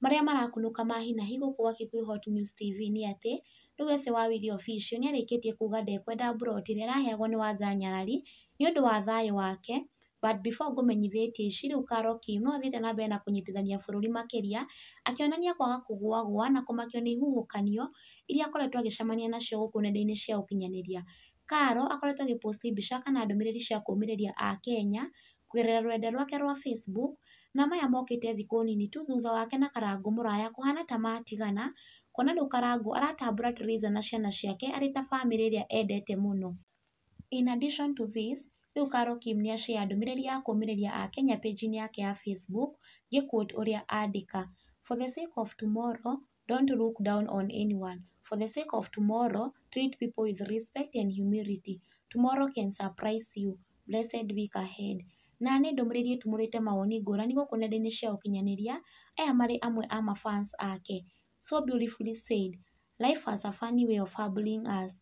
Marĩa marakunũka ma hi na hi gũkũ gwa Kikuyu Hot News TV nĩ atĩ, rĩu ase wa Willy Official nĩ arĩkĩtie kuuga ndekwenda mburoti ĩrĩa ĩraheagwo nĩ Wanja nyarari, nĩ ũndũ wa thayũ wake, but before ngũmenyithĩtie ici, rĩu Karoki nĩ athiĩte na mbere na kũnyitithania bũrũri makĩria, akĩonania kwaga kũgũagũa na kũmakio nĩ ihuhũkanio, iria akoretwo agĩcemania nacio gũkũ nenda-inĩ cia ũkinyanĩria. Karo akoretwo agĩ post mbica kana ndũmĩrĩri cia kũmĩrĩria Akenya, kũgerera rũrenda rwake rwa Facebook, na maya mokĩte thikũ nini tu thutha wake na Karangũ mũraya kũhana ta matigana, kuona rĩu Karangũ aratambũra Teresa na ciana ciake arĩ ta bamĩrĩ ĩrĩa endete mũno. In addition to this, rĩu Carol Kim nĩ a share ndũmĩrĩri ya kũũmĩrĩria Akenya page-inĩ yake ya Facebook, ngĩ quote ũrĩa andĩka, For the sake of tomorrow, don't look down on anyone for the sake of tomorrow treat people with respect and humility tomorrow can surprise you blessed week ahead na nĩ ndũmĩrĩri ĩtumũrĩte mawoni ngũrani gũkũ nenda-inĩ cia ũkinyanĩria aya marĩ amwe a ma fans ake so beautifully said life has a funny way of humbling us.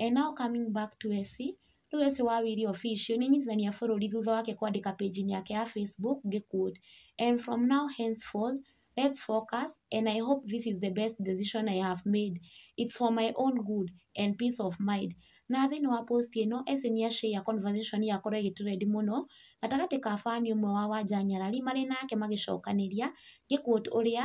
and now coming back to Esĩ, rĩu Esĩ wa Wĩri Official nĩ inyitithania bũrũri thutha wake kwandĩka page-inĩ yake ya Facebook ngĩ quote, And from now henceforth, let's focus and I hope this is the best decision I have made. It's for my own good and peace of mind. Na thĩinĩ wa post ĩno, Esĩ nĩ a share conversation yakorwo ĩgĩ trend mũno gatagatĩ ka fan ũmwe wa Wanja nyarari marĩ nake magĩcokanĩria ngĩ quote ũrĩa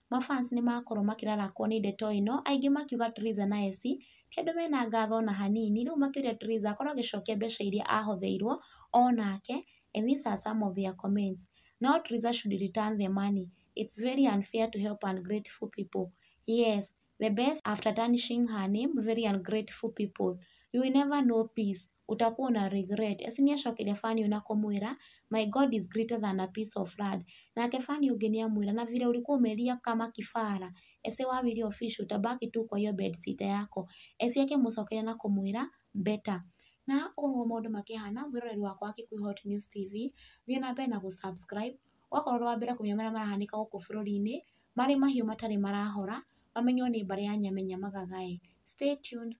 ma fans nĩ makorwo makĩrarakwo nĩ ndeto ĩno, aingĩ makiuga Theresa na Essie ti andũ mena ngatho ona hanini, rĩu makĩũria Theresa akorwo agĩcokia mbeca iria ahotheirwo onake and these are some of their comments, no Theresa should return the money, it's very unfair to help ungrateful people, yes the best after tarnishing her name very ungrateful people, you will never know peace ũtakuwa na regret. Eci nĩ acokire Fanny ũyũ na kũmwĩra, My God is greater than a piece of land. Nake Fanny ũngĩ nĩ amwĩra, Na vile ulikuwa umelia kama kĩbara, ese wawili official, utabaki tu kwa hiyo bedsitter yako. Eci akĩmũcokeria na kũmwĩra, Better. Na ũguo maũndũ makĩhana, mwĩroreri wakwa wa Kikuyu Hot News TV, thiĩ na mbere na gũ subscribe, ũgakorwo ũrĩ wa mbere kũmenya marĩa marahanĩka gũkũ bũrũri-inĩ, marĩ mahiũ matarĩ marahora, mamenywo nĩ mbarĩ ya Nyamenya Magaga ĩ. Stay tuned.